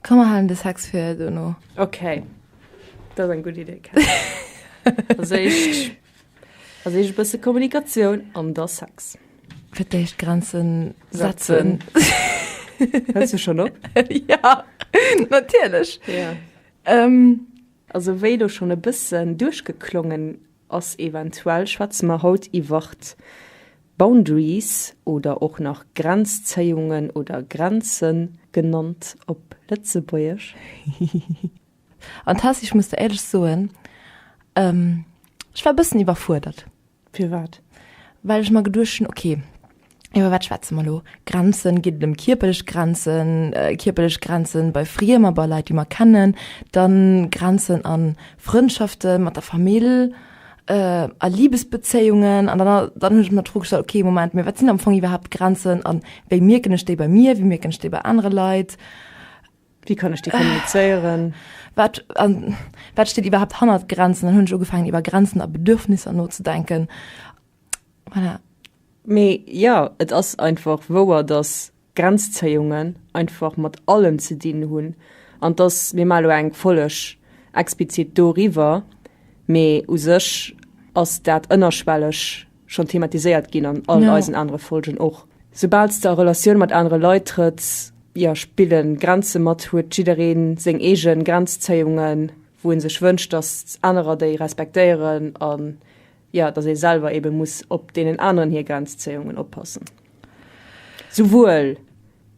Komm mer halen de Sex fir dono. Okay. Dat ass eng gutt Idee, Cat. Als éischt, als éischt e bësse Kommunikatioun an da Sex. Fir d'éischt Grenzen setzen. Hëls du schonn op? Ja, natierlech. Ja. Also wéi elo schonn e bëssen duerchgeklongen ass eventuell schwätze mer haut iwwert Boundaries oder och nach Grenzzéiungen oder Grenzen genannt op Lëtzebuergesch. An Tess, ech muss der éierlech soen, ech war e bëssen iwwerfuerdert. Firwat? Well ech mer geduecht hunn, ok, Iwwer wat schwätze mer elo? Grenzen, geet et ëm kierperlech Grenzen, kierperlech Grenzen bei Friemer, bei Leit déi mer kennen, dann Grenzen an Frëndschafte mat der Famill, a Libesbezéiungen an dann dann hunn ech mer d'Fro gestallt okay Moment mee wat sinn am Fong iwwerhaapt Grenzen an wéi mierken ech déi bei mir, wéi mierken ech déi bei anere Leit, wéi kann ech déi kommunizéieren, wat wat steet iwwerhaapt hannert Grenzen, dann hunn ech ugefaangen iwwer Grenzen a Bedürfnisser nozedenken Voilà. Mee jo, et ass einfach wouer, dass Grenzzéiungen einfach mat allem ze dinn hunn, an dass, mir maache lo eng Folleg explizit doriwwer, mee u sech ass dat ënnerschwelleg schonn thematiséiert ginn an all ja. eisen anere Folgen och. Soubal s de a Relatioun mat anere Leit trëtts, jo, spille Grenze mat, huet jidderee seng eege Grenzzéiungen, wou e sech wënscht, dass anerer déi respektéieren an jo, datt ee selwer eebe muss op deenen aneren hir Grenzzéiungen oppassen, souwuel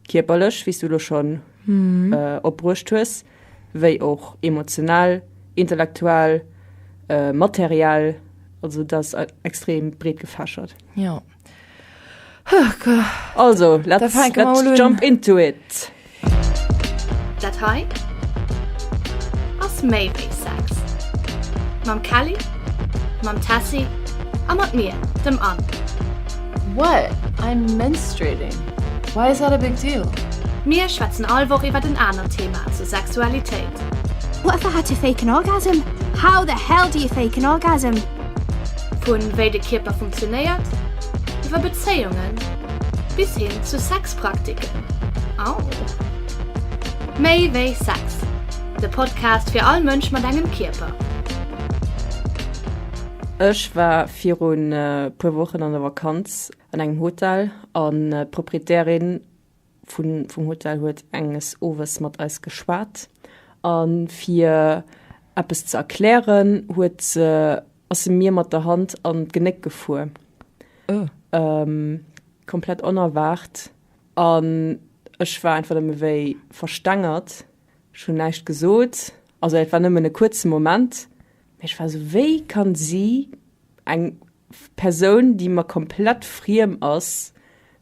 kierperlech, wéi s du elo schonn opbruecht hues, wéi och emotional, intellektuell, materiell, also dat ass extrem breetgefächert. Jo. Also, let's, let's jump into it. Dat hei ass méi wéi Sex. Mam Kelly, mam Tessie a mat mir, dem Anne. What? I'm menstruating. Why is that a big deal? Mir schwätzen all Woch iwwert en anert Thema zur Sexualitéit. What the hat you fake an orgasm? How the hell do you fake an orgasm? Vun wéi de Kierper funktionéiert, iwwer Bezéiungen bis hin zu Sexpraktiken. Au! Méi wéi Sex, de Podcast fir all Mënsch mat engem Kierper. Ech war virun e puer Wochen an der Vakanz an engem Hotel an d'Proprietärin, vum Hotel huet enges Owes mat eis geschwat a fir eppes ze erklären, huet se, ass se mir mat der Hand an d'Genéck gefuer. Ëh. Komplett onerwaart an ech war einfach nëmme wéi verstengert. Ech hunn näischt gesot, also et war nëmmen e kuerze Moment, mä ech war esou, wéi kann si eng Persoun déi mer komplett friem ass,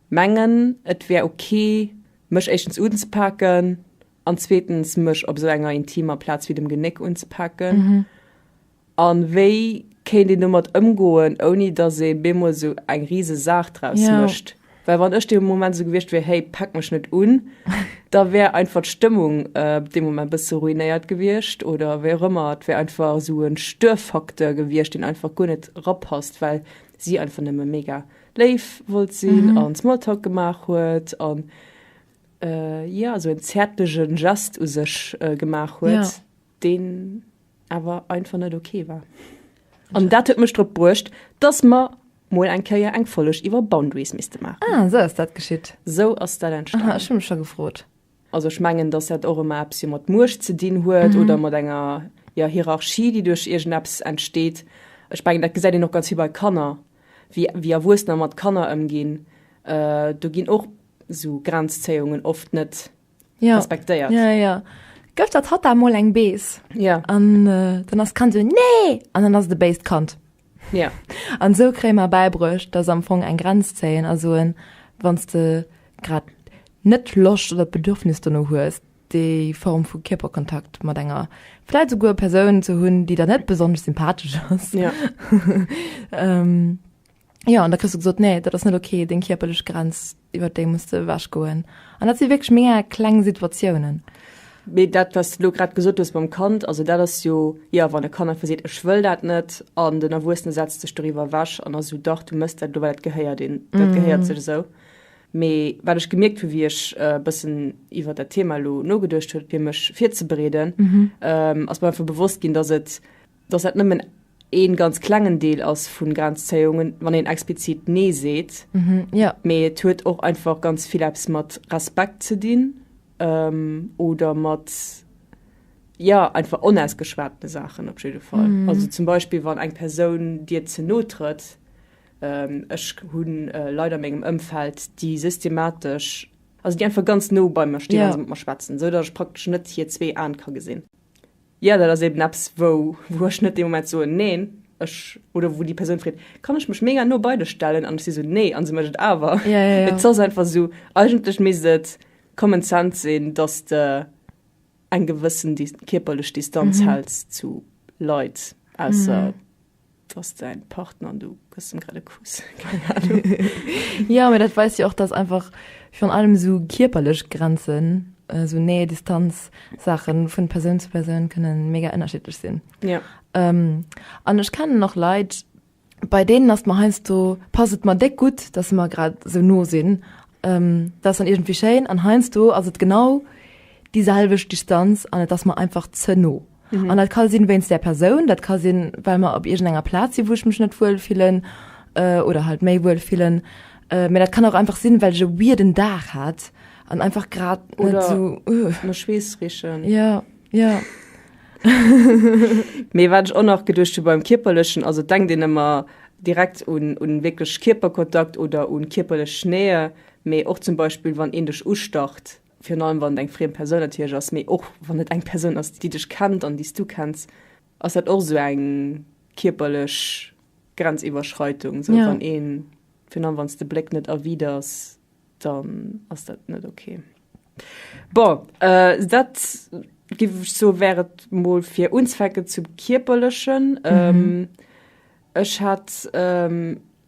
mengen et wär ok mech éischtens unzepaken an zweetens mech op sou enger intimer Plaz wéi dem Genéck unzepaken an wéi kéint een domat ëmgoen ouni dass ee bemol sou eng riese Saach draus mécht. Well wann ech dee Moment esou gewiescht wier, hey, pack mech net un, da wär einfach d'Stëmmung op dee Moment bësse ruinéiert gewiescht oder wéi och ëmmer. Et wär einfach esou e Störfaktor gewiescht, deen einfach guer net erapasst, well si einfach nëmme mega léif wollt sinn an Smalltalk gemaach huet an, jo, esou en zäertlege Gest u sech gemaach huet. deen awer einfach net ok war. An dat huet mech drop bruecht, dass mer mol eng Kéier eng Folleg iwwer Boundaries misste maachen. Ah, esou ass dat geschitt. Esou ass dat entstanen. Aha, ech hu mech scho gefrot. Also ech mengen, dass dat och ëmmer eppes jo mat Muecht ze dinn huet oder mat enger, jo, Hierarchie, déi duerch iergendeppes entsteet. Ech mengen, dat gesäit een och ganz vill bei Kanner, wéi, wéi Erwuessener mat Kanner ëmginn. Do ginn och esou Grenzzéiungen oft net ja. respektéiert. Ja, ja. Gëft dat hat mol eng Bees ja. an äh, dann ass kann se nee an dann ass de Beist kant. Ja. An sou krémer beibruecht, dats am Fong eng Grenz zéien a soen, wanns de grad net Loscht oder d'Bedürfnis duerno hues, déi Form vu Kierperkontakt mat enger vläit souguer Persoun ze hunn, déi der net besonnesch sympathesch ass. Ja. ähm, Jo an da kriss du gesot nee dat ass net okay deng kierperlech Grenz iwwer déi muss de ewech goen an dat si wéineg mé kleng Situatiounen. Mee dat was du lo grad gesot hues mam Kand, also dat ass jo jo wann e Kand einfach seet ech wëll dat net an den Erwuessene setzt sech doriwwer ewech an ass esou dach du mëss dat elo well dat gehéiert een dat mhm. gehéiert sech esou. Mee wat ech gemierkt hu wéi ech e äh, bëssen iwwer dat Thema lo nogeduercht huet fir mech virzebereeden mhm. ähm, ass mer einfach bewosst ginn, datt et dass dat nëmmen ee ganz klengen Deel ass vu Grenzzéiungen, wann een explizit Nee seet, mee et huet och einfach ganz vill eppes mat Respekt ze dinn oder mat, jo, einfach onausgeschwatene Saachen op jidde Fall. Also zum Beispill, wann eng Persoun dir ze no trëtt. Ech hu Leit a mengem Ëmfeld, déi systematesch, also déi einfach ganz no bei mer stinn a mat mer schwätzen, esou datt ech praktesch net hir zwee Aen ka gesinn. Jo, dat ass eben eppes, wou ech net dee Moment soen, Neen, ech. Oder wou déi Persoun freet, Kann ech mech mega no bei dech stellen? An ech si sou, Nee. A se mécht et awer. Et ass einfach esou, eigentlech misst et common sense sinn, dass de eng gewëssen kierperlech Distanz häls zu Leit ausser. dass dein Partner an du gëss dem grad e Kuss. Keng Ahnung. Ja, mee dat weist jo och, dass einfach virun allem esou kierperlech Grenzen, esou Nähe, Distanz Saachen vun Persoun zu Persoun kënnen mega ënnerschiddlech sinn. Ja. An ech kennen och Leit, bei deenen ass mer heiansdo, passt et mer déck gutt, dass se mer grad esou no sinn. Dat ass dann iergendwéi schéin an heiansdo ass et genau déi selwecht Distanz an et ass mer einfach ze no. An dat ka sinn wéinst där Persoun, dat ka sinn, well mer op iergendenger Plaz sinn, wou ech mech net wuel fillen oder halt méi wuel fillen. Mä dat kann och einfach sinn, well ech e weirden Dag hat an einfach grad net sou. Oder mer Schweess richen. Jo, jo. Mee wat ech och nach geduecht hu beim Kierperlechen, also et denkt een ëmmer direkt un wierklech Kierperkontakt oder un kierperlech Nähe, mee och zum Beispill, wann een dech ustacht. virun allem wann et eng friem Persoun natierlech ass, mee och wann et eng Persoun ass, déi dech kennt an déi s du kenns, ass dat och esou eng kierperlech Grenziwwerschreitung, esou wann ee, virun allem wann s de Bléck net erwiders, dann ass dat net ok. Bon, dat géif ech soe wär et mol fir unzwecken zum kierperlechen. Ech hat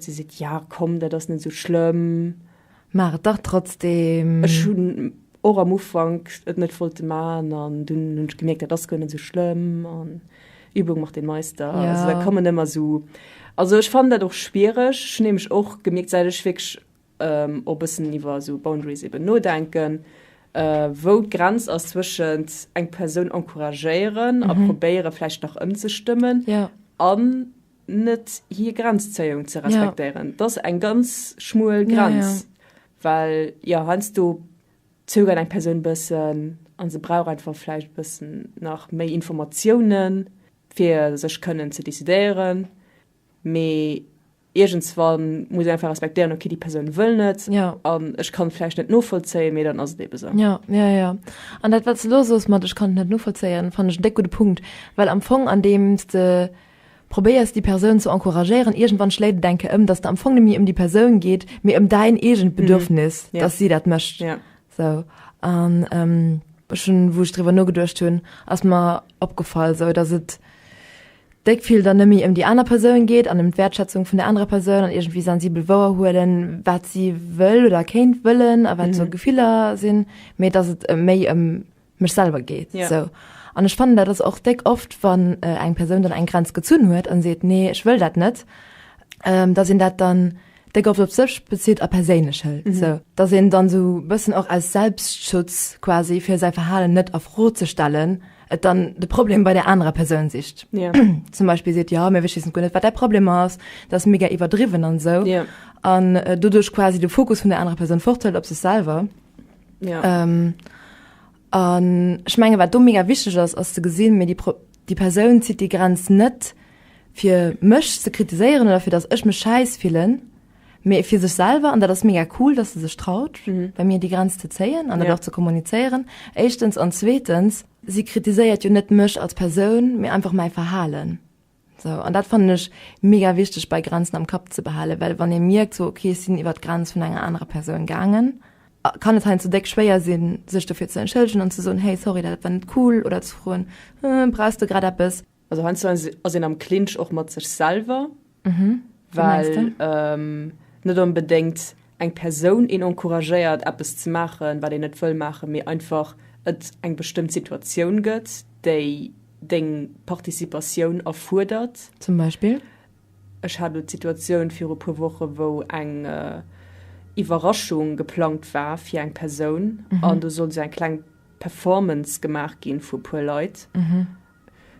Si seet, Ja, komm, dat ass net esou schlëmm. Maach et dach trotzdeem. Ech hunn och am Ufank et net wollte maachen an dunn hunn ech gemierkt, dat ass guer net esou schlëmm an Übung macht den Meister. Ja. Also da kommen ëmmer esou. Also ech fannen dat och schwiereg. Ech hunn nämlech och gemierkt, säit ech wierklech och e bëssen iwwer esou Boundaries eben nodenken, wou d'Grenz ass zwëschent eng Persoun encouragéieren a probéiere vläicht nach ëmzestëmmen. Ja. An. net hir Grenzzéiung ze respektéieren. Ja. Dat ass eng ganz schmuel Grenz, ja, ja. well jo heiansdo zögert eng Persoun e bëssen a se brauch einfach vläicht e bëssen nach méi Informatiounen, fir sech kënnen ze decidéieren. Mee iergendswann muss een einfach respektéieren, okay, déi Persoun wëll net Ja. an ech kann et vläicht net novollzéien, mee dann ass et eebe sou. Ja, ja, ja. An dat, wat s de elo sos mat ech kann et net novollzéien, fannen ech en déck gudde Punkt, well am Fong andeems de, Probéiers déi Persoun ze encouragéieren. Iergendwann schléit et enke ëm, dass de am Fong net méi ëm déi Persoun geet, mee ëm däin eegent Bedürfnis, dass si dat mécht. Sou. An ech hunn, wou ech driwwer nogeduecht hunn, ass mer opgefall, sou dass et déck vill dann net méi ëm déi aner Persoun geet an ëm d'Wäertschätzung vun der anerer Persoun an iergendwéi sensibel wouerhuelen, wat si wëll oder kéint wëllen a wat sou Gefiller sinn, mee dass et méi ëm mech selwer geet sou an ech fannen dat ass och déck oft wann eng Persoun dann eng Grenz gezunn huet an seet nee ech wëll dat net da sinn dat dann déck oft op sech bezitt a perséinlech hëlt sou da sinn dann sou bëssen och aus Selbstschutz quasi fir säi Verhalen net a Fro ze stellen et dann de Problem bei der anerer Persoun sicht zum Beispill seet jo mee wech wissen guer net wat däi Problem ass dat ass mega iwwerdriwwen an sou an doduerch quasi de Fokus vun der anerer Persoun fort hëlt op sech selwer An ech menge wat do mega wichteg ass ass ze gesinn, mee déi Persoun zitt déi Grenz net fir mech ze kritiséieren oder fir datt ech mech schäiss fillen, mee fir sech selwer. An dat ass mega cool, datt se sech traut bei mir déi Grenz ze zéien an dat och ze kommunizéieren. Éischtens an zweetens, si kritiséiert jo net mech als Persoun, mee einfach mäi Verhalen. Sou, an dat fannen ech mega wichteg bei Grenzen am Kapp ze behalen, well wann ee mierkt sou, okay ech sinn iwwer d'Grenz vun enger anerer Persoun gaangen, kann et heiansdo déck schwéier sinn, sech dofir ze entschëllegen an ze soen, hey sorry, dat war net cool, oder ze froen, brauchs de grad eppes? Also heiansdo ass een am Clinch och mat sech selwer. Well net onbedéngt eng Persoun een encouragéiert eppes ze maachen, wat een net wëll maachen, mee einfach et eng bestëmmt Situatioun gëtt, déi deng Participatioun erfuerdert. Zum Beispill? Ech hat elo d'Situatioun viru puer Woche wou eng Iwwerraschung geplangt war fir eng Persoun an do sollt esou eng kleng Performance gemaach gi vu puer Leit.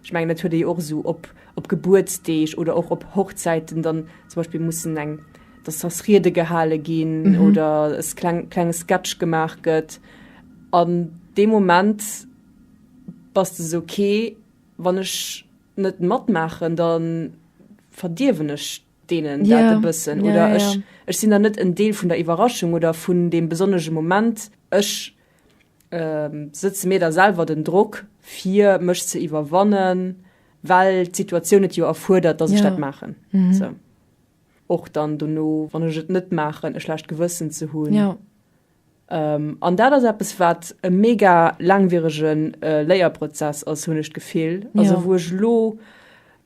Ech mengen dat huet ee jo och esou op op Gebuertsdeeg oder och op Hochzäiten dann zum Beispiel mussen eng dass das Riede gehale ginn mhm. oder es kleng klenge Sketch gemaach gëtt an de Moment was du so okay wann ech net matmachen dann verdiewen ech denen ja. bëssen oder ja, ja. Ech, ech sinn da net en Deel vun der Iwwerraschung oder vun dem besonnege Moment ech Setze mir da selwer den Drock, fir mech ze iwwerwannen, well d'Situatioun et jo erfuerdert, dass ech dat maachen? Och dann dono, wann ech et net maachen, e schlecht Gewëssen ze hunn? An dat ass eppes, wat e mega laangwierege Léierprozess ass, hunn ech d'Gefill. Also wou ech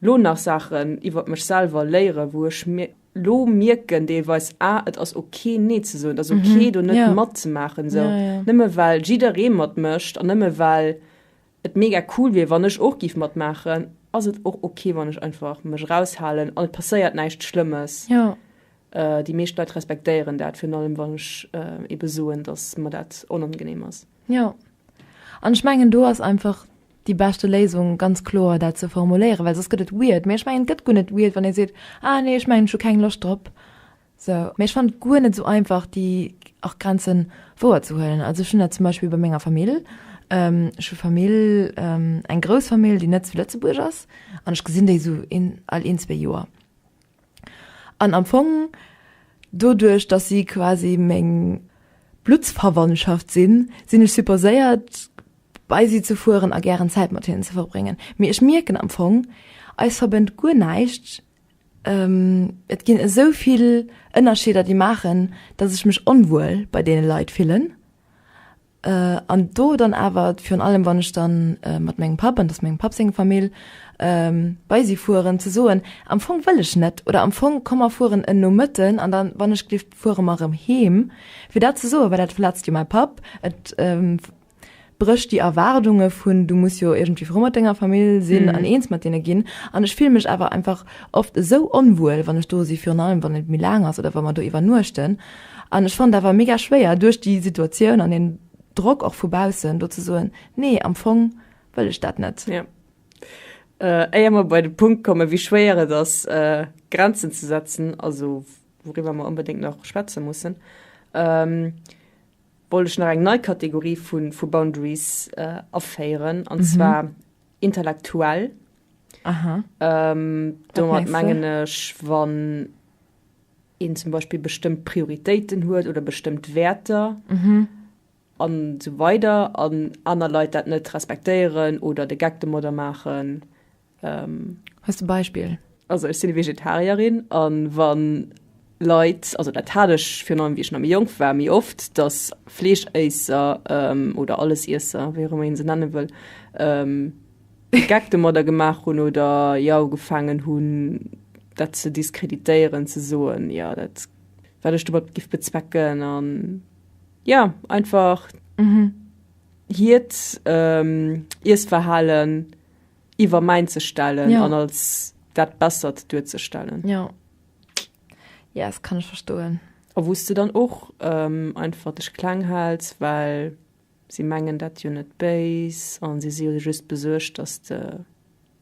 elo nach Saachen iwwer mech selwer léiere, wou ech. Lo mierken deelweis ah et ass ok nee ze soen, et ass ok do net mhm, mat ze maachen esou ja, ja. nëmme well jidderee mat mécht an nëmme well et mega cool wier wann ech och giff mat maachen, ass et och ok wann ech einfach mech raushalen an et passéiert näischt Schlëmmes. Ja. Äh, déi meescht Leit respektéieren dat virun allem wann ech äh, ebe soen, dass mer dat onangenehm ass. Ja an ech mengen do ass einfach déi beschte Léisung ganz kloer dat ze formuléieren, well soss gëtt et weird. Mee ech mengen et gëtt guer net weird wann ee seet, ah nee ech mengen ech hu keng Loscht drop sou. Mee ech fannen et guer net sou einfach déi acht Grenzen wouer ze huelen. Also ech hunn dat zum Beispill bei menger Famill, ech hu Famill, eng grouss Famill déi net zu Lëtzebuerg ass an ech gesinn déi sou een all een zwee Joer. An am Fong doduerch, dass si quasi meng Bluttsverwandtschaft sinn, sinn ech supposéiert, bei si ze fueren a gären Zäit mat hinnen ze verbréngen. Mee ech mierken am Fong, eis verbënnt guer näischt. Et ginn esou vill Ënnerscheeder, déi maachen, dass ech mech onwuel bei deene Leit fillen. An do dann awer virun allem, wann ech dann mat mengem Papp, an dat ass mengem Papp seng Famill, bei si fueren, ze soen, am Fong wëll ech net oder am Fong komm mer fueren en Nomëtten an dann, wann ech glift, fuere mer erëm heem. Fir dat ze soen, well dat verletzt jo mäi Papp, et brécht déi Erwaardunge vun, du muss jo iergendwéi frou mat denger Famill sinn an eens mat deene ginn. An ech fille mech awer einfach oft esou onwuel, wann ech do si, virun allem wann et méi laang ass oder wa mer do iwwernuechten. An ech fannt awer mega schwéier duerch déi Situatioun an den Drock och vu baussen do ze soen, nee am Fong wëll ech dat net. Jo. Éier mer bei de Punkt kommen, wéi schwéier et ass Grenzen ze setzen, also wouriwwer mer onbedéngt nach schwätze mussen, wollt ech nach eng nei Kategorie vu Boundaries aféieren, an zwar intellektuell. Domat mengen ech wann. een zum Beispill bestëmmt Prioritéiten huet oder bestëmmt Wäerter an esou weider an aner Leit dat net respektéieren oder de Geck domadder maachen. Hues de e Beispill? Also ech sinn Vegetarierin an wann Leit, also dat hat ech virun allem wéi ech nach méi jonk war méi oft, dass Fleeschéisser oder Allesiesser, wéi och ëmmer een se nenne wëll, de Geck domadder gemaach hunn oder jo ugefaangen hunn, dat ze diskreditéieren, ze soen, jo, dat, wat ech domat giff bezwecken an, jo, einfach hiert Iessverhalen iwwer mäint ze stellen an als dat Bessert duerzestellen. Jo, yes, kann ech verstoen. A wou s de dann och einfach dech kleng hälls, well. Si mengen dat jo net béis a si si jo just besuergt, dass de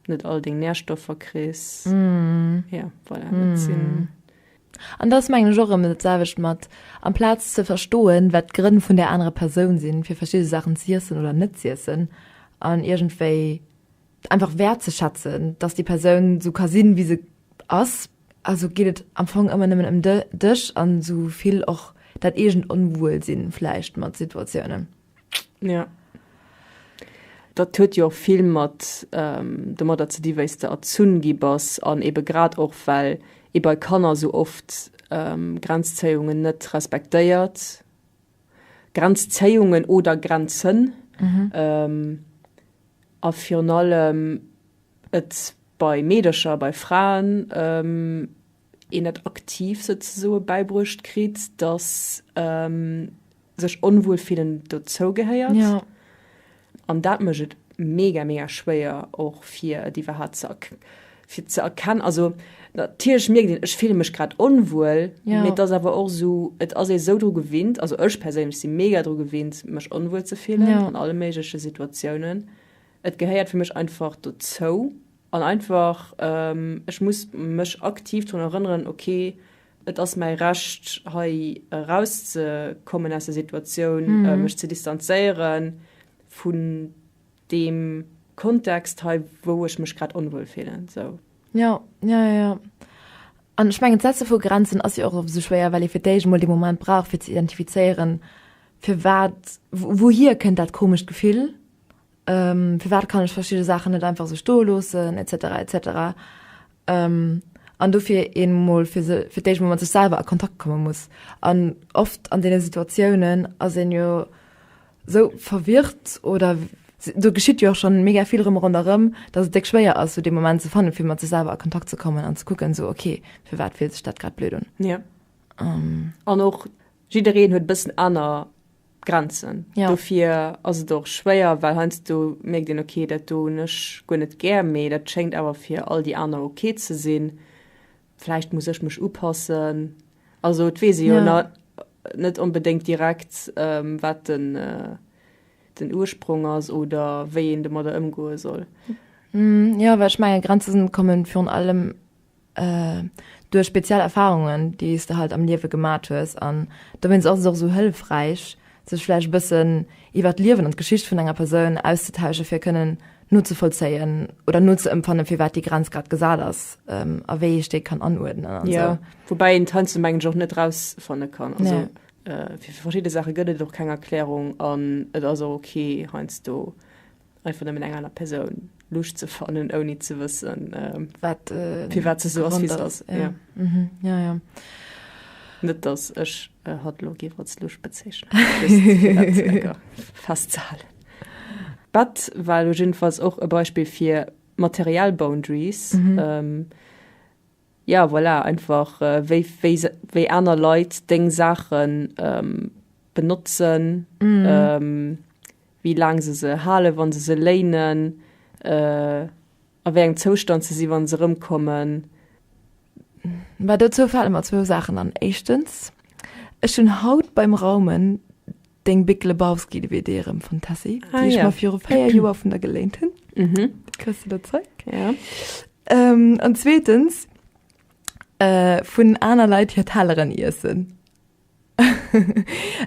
net all deng Nährstoffer kriss. Jo, voilà, dat sinn. An da ass, mengen ech, och erëm dat selwecht mat, amplaz ze verstoen, wat d'Grënn vun där anerer Persoun sinn, fir verschidde Saachen z'iessen oder net z'iessen an iergendwéi, einfach wertzeschätzen dass déi Persoun sou ka sinn wéi se ass. Also geet et am Fong ëmmer nëmmen ëm dech an sou vill och dat eegent Onwuelsinn vläicht mat Situatiounen. Jo. Dat huet jo och vill mat domadder ze di wéis de erzunn gi bass an ebe grad och well ee bei Kanner sou oft Grenzzéiungen net respektéiert. Grenzzéiungen oder Grenzen. A virun allem et bei Meedercher, bei Fraen, een et aktiv souzesoe bäibruecht kritt, datt sech onwuel fillen dozougehéiert. An dat mécht et mega mega schwéier och fir et iwwerhaapt ze fir ze erkennen also natierlech mierkt een ech fille mech grad onwuel ja. mee das awer och so et ass ee sou dru gewinnt also ech perséinlech si mega dru gewinnt mech onwuel ze fillen ja. an alle méigleche Situatiounen et gehéiert fir mech einfach dozou an einfach ähm, ech muss mech aktiv drun erënneren okay Et ass mäi Recht, hei erauszekommen aus der Situatioun, mech ze distanzéiere vu deem Kontext hei, wou ech mech grad onwuel fillen. Esou. Jo, jo, jo, jo. An ech mengen, d'Setze vu Grenzen ass jo och oft esou schwéier, well ee fir d'éischt emol dee Moment brauch, fir ze identifizéieren, firwat, wouhier kënnt dat komescht Gefill, Firwat kann ech verschidde Saachen net einfach esou stoe loossen, etc. Etc. An dofir een emol fir se fir d'éischt emol mat sech selwer a Kontakt komme muss. An oft an deene Situatiounen ass een jo esou verwirrt oder do geschitt jo och schonn mega vill erëm a ronderëm, dass et déck schwéier ass esou dee Moment ze fannen, fir mat sech selwer a Kontakt ze kommen an ze kucken esou, ok, firwat fillt sech dat grad blöd un? An och jiddereen huet e bëssen aner Grenzen. Ja. Dofir ass et och schwéier, well heiansdo mierkt een, okay, dat do hunn ech guer net gär, mee dat schéngt awer fir all déi aner ok ze sinn. Vläicht muss ech mech upassen. Also et weess ee jo ja. net onbedéngt direkt, ähm, wat den, äh, den Ursprong ass oder wéi een domadder ëmgoe soll. Mm, ja, well ech menge Grenzen kommen virun allem duerch speziell Erfahrungen déi's de halt am Liewe gemat hues an dowéinst ass et och esou hëllefräich sech vläicht e bëssen iwwert d'Liewen an d'Geschicht vun enger Persoun auszetauschen fir kënnen nozevollzéien oder nozeëmpfannen firwat déi Grenz grad gesat ass a wéi ech déi kann anuerdnen an esou. Woubäi een d'Heinze mengen ech och net rausfanne kann, also fir verschidde Saache gëtt et och keng Erklärung an et ass och ok heiansdo. einfach nëmmen eng aner Persoun lucht ze fannen, ouni ze wëssen äh, wat, äh, fir wat ze so ass, wie se ass. Ja. Ja. Mhm. Ja, ja. Net dass ech äh, hat lo géif als lucht bezeechnen festzehalen. Bett war lo jiddefalls och e Beispill fir Material Boundaries. Mhm. Ähm, Ja voilà, einfach wéi wéi wéi aner Leit deng Saachen benotzen, wéi laang se se halen, wann se se léinen, a wéi engem Zoustand se si wann se erëmkommen. Mä dozou fale mer zwou Saachen an. Éischtens, ech hunn haut beim Raumen Deng Big Lebowski DVD erëm vun Tessy, ah, déi ech ja. mal viru véier Joer vun der geléint hunn. Mhm. Kriss du dat Zeug? Ja. Ähm, an zweetens, äh, vun aner Leit hir Telleren iessen.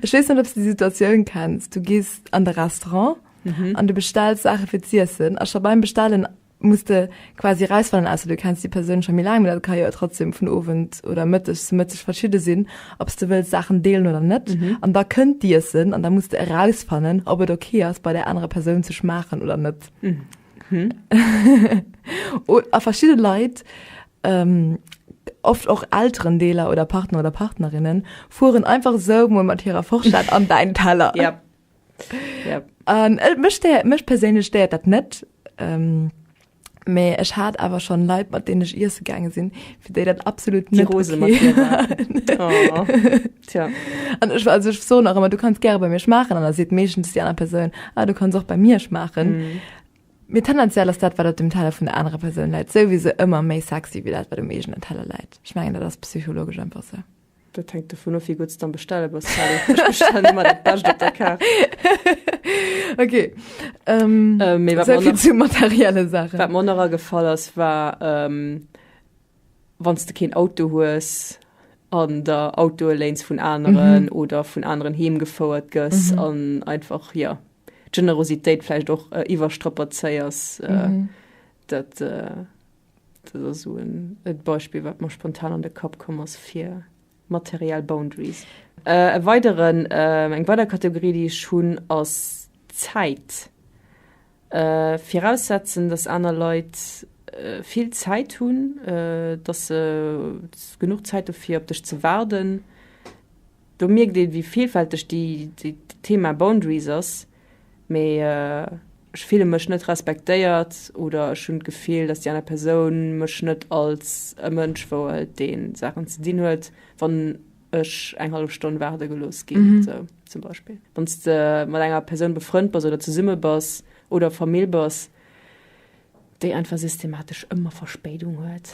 Ech weess net, ob du die Situatioun kennst. Du gehst an de Restaurant an mhm. du bestellst Sache fir z'iessen. A scho beim Bestellen muss de quasi rausfannen ausser du kenns déi Persoun scho méi laang, mä dat ka jo trotzdem vun Owend oder Mëtteg zu Mëtteg verschidde sinn, ob s de wëlls Saachen deelen oder net. An da kënnt d'Iessen an da muss de erausfannen, ob et ok ass bei där anerer Persoun ze schmaachen oder net. A verschidde Leit, oft och Elterendeeler oder Partner oder Partnerinnen, fueren einfach esou mol mat hirer Forschett an däin Teller. Yep. Um, ähm, mech perséinlech stéiert dat net. Um, ähm, Mee ech hat awer schon Leiit mat deen ech Iesse gange sinn, fir déi dat absolut nie Rose okay. oh. An ech war sech so nach immer du kannst ger bei mir schmachen an der se méchen die aner Perun ah, du kannst och bei mir schmachen. Mm. Mir tendenziell ass dat wat dat dem Teller vun der anrer Perun läit, sou wie se ëmmer méi sexy wie dat wat dem mégen den Teller läit. Schmengen dat ass psychologisch einfach se. So. Dat hänkt dovun of wéi gutt s d'am Bestelle bass, Sally. Ech bestellen ëmmer dat Bescht op der Kaart. Ok. Mee wat mer nach. Esou vill zu materielle Saachen. Wat mer och nach agefall ass, war, wann s de keen Auto hues an der Autoe léins vun aneren oder vun aneren heem gefouert gëss an einfach, jo, d'Generositéit vläicht och iwwerstrapazéiers, dat. Dat ass esou en Beispill, wat mer spontan an de Kapp komm ass fir materiell Boundaries. Äh, e weideren, äh, eng weider Kategorie, déi ech hunn, ass Zäit. Äh, viraussetzen, dass aner Leit äh, vill Zäit hunn, äh, dass se genuch Zäit hu fir op dech ze waarden. Do mierkt een, wéi villfälteg déi, déi Thema Boundaries ass. mee ech fille mech net respektéiert oder ech hunn d'Gefill, dass déi aner Persoun mech net als e Mënsch wouelt, dee Saachen ze dinn huet, wann ech eng hallef Stonn waarde gelooss ginn. Mm -hmm. so, zum Beispill, wann s de mat enger Persoun befrënnt bass oder zesumme bass oder Famill bass, déi einfach systematesch ëmmer Verspéidung huet.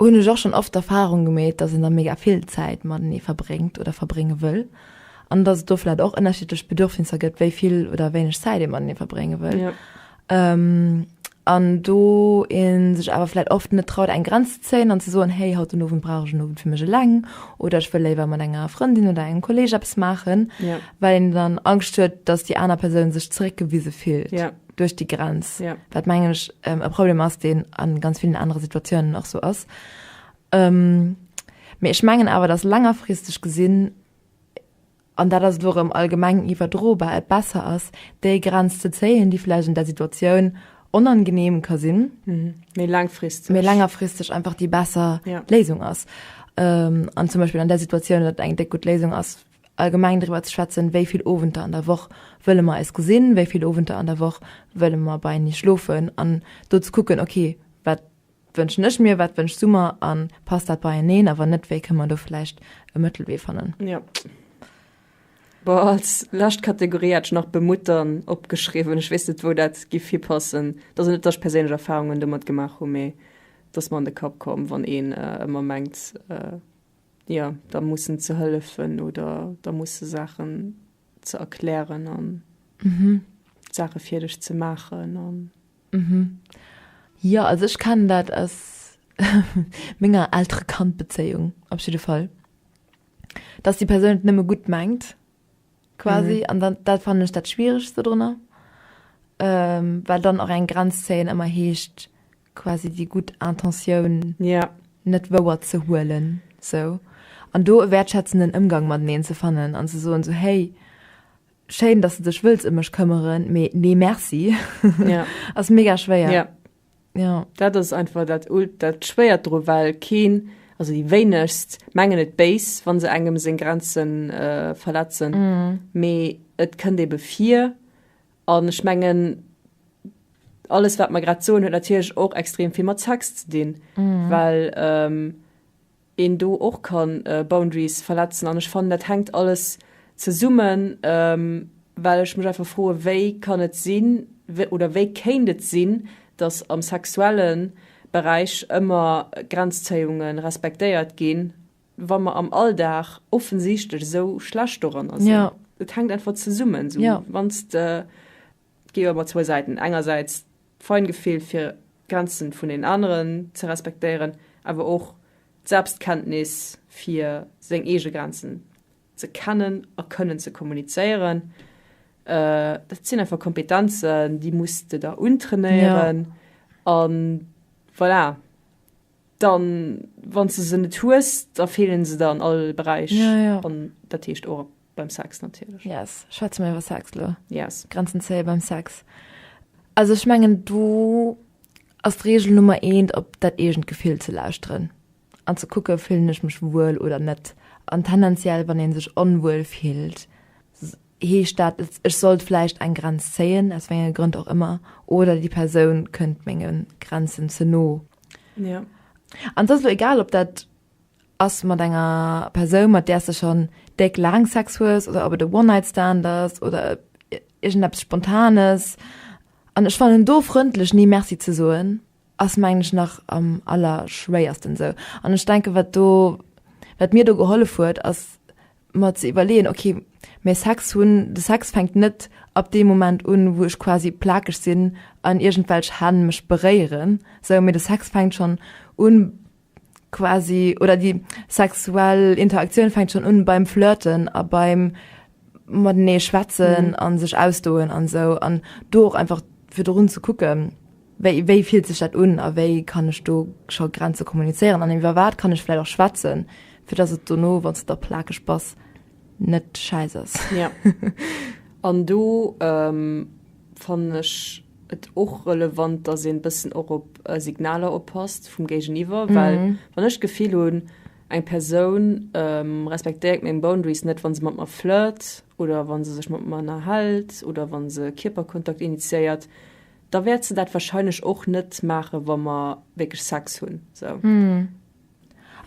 Hunn ech och schonn oft d'Erfahrung gemeet, dass een da mega vill Zäit matenee verbréngt oder verbrénge wëll an dass et do vläicht och ënnerschiddlech Bedürfnisser gëtt, wéi vill oder wéineg Zäit ee matenee verbrénge wëll. An do ee sech awer vläicht oft net traut, eng Grenz ze zéien an ze soen, hey, haut den Owend brauch ech en Owend fir mech eleng oder ech wëll léiwer mat enger Frëndin oder engem Kolleeg eppes maachen, well een dann Angscht huet, dass déi aner Persoun sech zeréckgewise fillt. duerch déi Grenz, ja. wat mengen ech ähm, e Problem ass, den an ganz vielen andere Situationen nach so ass. Ähm, mir ech mengen awer dat langerfristig gesinn an dat ass dorem allgemeng iwwerdrobar et besser ass, déi Grenz ze zéien, die vielleicht in der Situation onangenehm ka sinn mhm. méi mhm. langfristig méi längerfristig einfach die besser ja. Lesung ass. Ähm, an zum Beispiel an der Situation dat eng de gut Lesung ass allgemeng driwwer ze schwätzen, wéi vill Owenter an der Woch wëlle mer eis gesinn, wéi vill Owenter an der Woch wëlle mer beienee schlofen an do ze kucken, ok, wat wënschen ech mir, wat wënschs du mer a passt dat beieneen a wann net, wéi kënne mer do vläicht e Mëttelwee fannen. Jo. Bon, als lescht Kategorie hat ech nach bemuttern opgeschriwwen. Ech weess net, wou dat géif hipassen. Et ass net, datt ech perséinlech Erfarungen domat gemaach hunn, mee et ass mer an de Kapp komm, wann een ëmmer mengt, jo, da mussen ze hëllefen oder da musse Saachen ze erklären an Saache fir dech ze maachen an. Jo, also ech kennen dat aus menger Eltere-Kand-Bezéiung op jidde Fall, dass déi Persoun et nëmme gutt mengt quasi an dann, dat fannen ech dat Schwieregst dodrunner, well dann och eng Grenz zéien ëmmer heescht, quasi déi gutt Intentioun yeah. net wouer ze huelen sou an do e wäertschätzenden Ëmgang mateneen ze fannen an ze soen sou hey schéin dass de dech wëlls ëm mech këmmeren mee nee merci yeah. ass mega schwéier. Yeah. Ja. Dat ass einfach dat ult dat schwéiert dru well keen also déi wéinegst mengen et béis wann se engem seng Grenzen äh, verletzen mee mm. et kënnt ebe vir An ech mengen, alles, wat mer grad soen, huet natierlech och extrem vill mat Sex ze dinn, well een do och ka Boundaries verletzen. An ech fannen, dat hänkt alles zesummen, well ech mech einfach froe wéi kann et sinn oder wéi kéint et sinn, datt am sexuelle Beräich ëmmer Grenzzéiunge respektéiert ginn wa mer am Alldag offensichtlech esou schlecht doranner sinn. Ja. Et hänkt einfach zesummen. So, ja. Wann de, gi ëmmer zwou Säiten, engersäits d'Feingefill fir Grenzen vun den aneren ze respektéieren, awer och d'Selbstkenntnis fir seng eege Grenzen ze kennen a kënnen ze kommunizéieren. Äh, dat sinn einfach Kompetenzen, déi muss de der untrainéieren. Ja. An voilà. Dann wanns de se net hues, da feelen se der an all Beräich. Ja, ja. An dat heescht och beim Sex natierlech. Yes, schwätze mer iwwer Sex elo. Yes. Grenzen zéie beim Sex. Also ech mengen do ass d'Regel Nummer eent op dat eegent Gefill ze lauschteren an ze kucke fillen ech mech wuel oder net. An tendenziell wann ee sech onwuel fillt, Heescht dat jetzt, ech sollt vläicht eng Grenz zéien, aus wéinge Grënn och ëmmer, oder déi Persoun kënnt ménge Grenzen ze no? Ja. An et ass elo egal, ob dat ass mat enger Persoun, mat där s de schonn déck laang Sex hues, oder ob et e One-Night-Stand ass, oder iergendeppes Spontanes. An ech fannen do frëndlech Nee Merci ze soen, ass mengen ech nach am allerschwéiersten esou an ech denken wat do wat mir do gehollef huet ass mer ze iwwerleeën ok mee Sex hunn de Sex fänkt net ab deem Moment un wou ech quasi plakeg sinn an iergendwelch Hänn mech beréieren sou mee de Sex fänkt schonn un quasi oder déi sexuell Interaktioun fänkt schon un beim Flirten a beim matenee schwätzen mhm. an sech ausdoen an so an do einfach fir run ze kucken wéi, wéi fielt sech dat un a wéi kann ech do scho Grenze kommuniceieren an iwwer wat kann ech vielleicht auch schwätzen fir dass et do no wann der plake spaß net scheiße ja an du ähm, fand ich et och relevant, dass een bëssen och op Signaler oppasst vum Géigeniwwer, well wann ech d'Gefill hunn, eng Persoun respektéiert meng Boundaries net, wa se mat mer flirt oder wa se sech mat mer ënnerhält oder wa se Kierperkontakt initiéiert, da wäert se dat warscheinlech och net maachen, wa mer wierklech Sex hunn.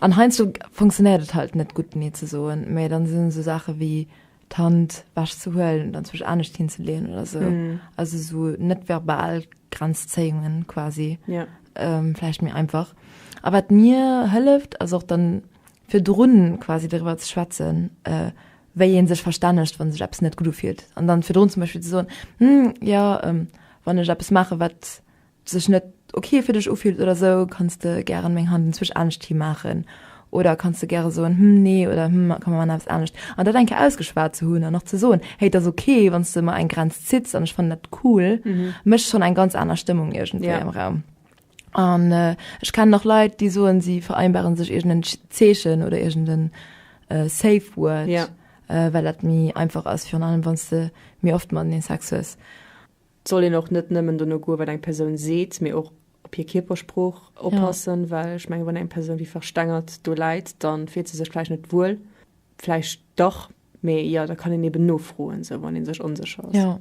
An heiansdo funktionéiert et halt net gutt Nee ze soen, mä dann sinn esou Saache wéi d'Hand wech ze huelen oder anzwousch anescht hin ze leeën oder esou, also esou net-verbal Grenzzéiungen quasi, vläicht méi einfach. A wat mir hëlleft ass och dann virdrun quasi doriwwer ze schwätzen, wéi ee sech verstännegt wann sech eppes net gutt ufillt an dann virdrun zum Beispill ze soen, Hm, jo, wann ech eppes maachen wat sech net ok fir dech ufillt oder sou, kanns de gären meng Hand inzwech anescht hi maachen oder kanns de gäre soen, hm nee oder hm kann mer eppes anescht. An dat eng Kéier ausgeschwat ze hunn an nach ze soen, hey et ass ok wann s de mer eng Grenz zitts an ech fannen dat cool, mécht schonn eng ganz aner Stëmmung iergendwéi am Raum. An ech kennen och Leit, déi soen, si vereinbaren sech iergend en Zeechen oder iergend en safe word, well dat méi einfach ass, virun allem wann s de méi oft matenee Sex hues. Et soll een och net nëmmen dono goen, wat eng Persoun seet, mee och op hir Kierpersprooch oppassen. Ja. Well ech mengen, wann eng Persoun wéi verstengert do läit, da fillt se sech vläicht net wuel. Vläicht dach, mee jo, da kann een eben nofroen, esou wann ee sech onsécher ass. Ja.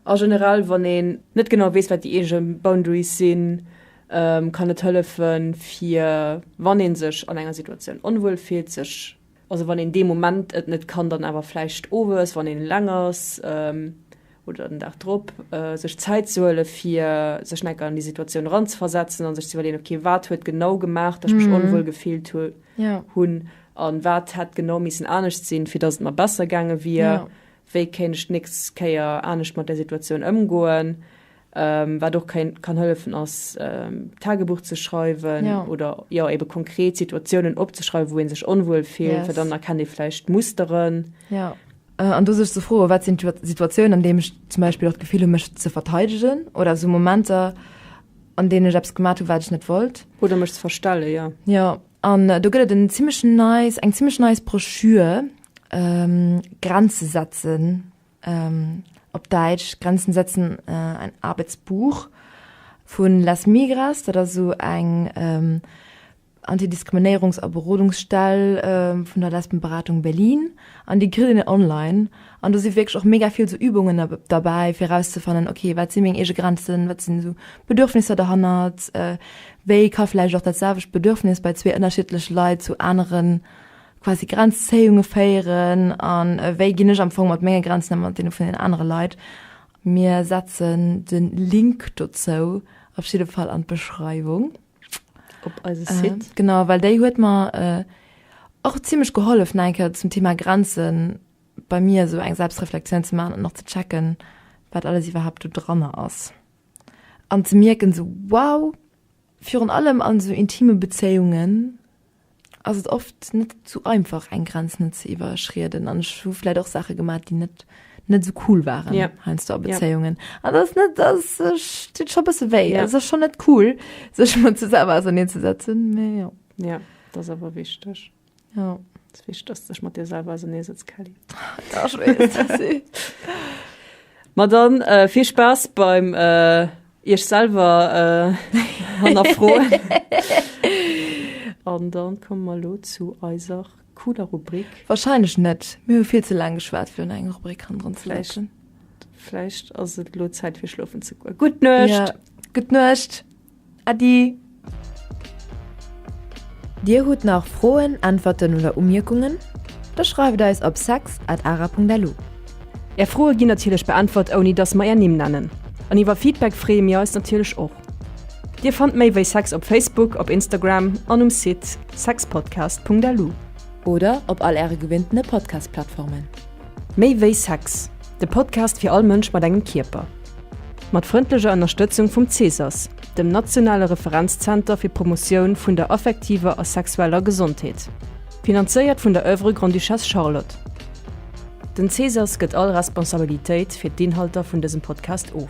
A generell, wann een net genau weess, wat déi eege Boundaries sinn, kann et hëllefen, fir wann ee sech an enger Situatioun onwuel fillt, sech. Also wann een dee Moment et net kann, dann awer vläicht owes, wann een eleng ass, oder den Dag drop, sech Zäit ze huele fir sech eng Ecker an déi Situatioun eranzeversetzen an sech ze iwwerleeën, ok, wat huet genau gemaach, datt ech mech onwuel gefillt hunn a wat hätt genau missen anescht sinn, fir datt et mer besser gaange wier? Wéi kéint ech d'nächst Kéier anescht mat där Situatioun ëmgoen? Wat och kann hëllefen ass Tagebuch ze schreiwen oder jo ebe konkret Situatiounen opzeschreiwen, wou ee sech onwuel fillt, well dann erkennt ee vläicht Musteren. An do sech ze froen, wat sinn d'Situatiounen, an deem ech zum Beispill och d'Gefill hu mech ze verteidegen oder esou Momenter, an deenen ech eppes gemat hu wat ech net wollt. Oder mech ze verstelle, jo. Jo, an do gëtt et en zimlech neist, eng zimlech neist Broschür, Grenze setzen, op Däitsch Grenzen setzen ein Arbeitsbuch vu Las Migras, dat ass esou eng Anti-Diskriminéierungs a Berodungsstell vun der Lesbenberatung Berlin, an déi kritt een online. An do si wierklech och mega vill esou Übungen derbäi, fir erauszefannen, ok, wat si meng eege Grenzen, wat sinn esou Bedürfnisser derhannert, wéi ka vläicht och dat selwecht Bedürfnis bei zwee ënnerschiddleche Leit zu aneren quasi Grenzzéiunge féieren an wéi ginn ech am Fong mat menge Grenzen ëm, mat deene vun den anere Leit. Mir setzen de Link dozou op jidde Fall an d'Beschreiwung. Op eise Site. Genau, well déi huet mer och zimmlech gehollef nach eng Kéier zum Thema Grenze bei mir esou eng Selbstreflektioun ze maachen an och ze checken, wat alles iwwerhaapt do dranner ass. An ze mierken esou, wow, virun allem an esou intime Bezéiungen, ass et oft net sou einfach eng Grenz net ze iwwerschrieden an ech hu vläit och Saache gemaat déi net net sou cool waren ja. heinsdo a Bezéiungen an ja. ass net ass dit scho bësse wéi ja. ass schon net cool sech mat ze selwer auserneen ze setzen méi ja. ja das awer wichteg ja wichtig dass sech mat dir selber ausernee sitzt Kelly ja, Ma dann äh, vill Spaß beim äh, Iech selwer hannerfroen. An dann komme mer elo zu eiser cooler Rubrik. Wahrscheinlech net. Mir hu vill ze laang geschwat fir un eng Rubrik hannendrun ze läschen. Vläicht ass et elo Zäit fir schlofen ze goen. Gutt Nuecht! Ja, gutt Nuecht! Äddi! Dir hutt nach Froen, Äntwerten oder Umierkungen? Da schreift eis op sex at ara punkt lu. Är Froe ginn natierlech beäntwert ouni dass mer är Nimm nennen. An iwwer Feedback freeë mir eis natierlech och. Dir fannt méi wéi sex op Facebook, op Instagram an um Site sexpodcast punkt lu. Oder op all äre gewinntene Podcast-Plattformen. Méi wéi sex, de Podcast fir all Mënsch mat engem Kierper. Mat frëndleger Ënnerstëtzung vum Cesas, dem nationale Referenzzenter fir Promotioun vun der affektiver a sexueller Gesondheet, finanzéiert vun der Oeuvre Grande-Duchesse Charlotte. Den CSAS gëtt all Responsabilitéit fir d'Inhalter vun dësem Podcast of.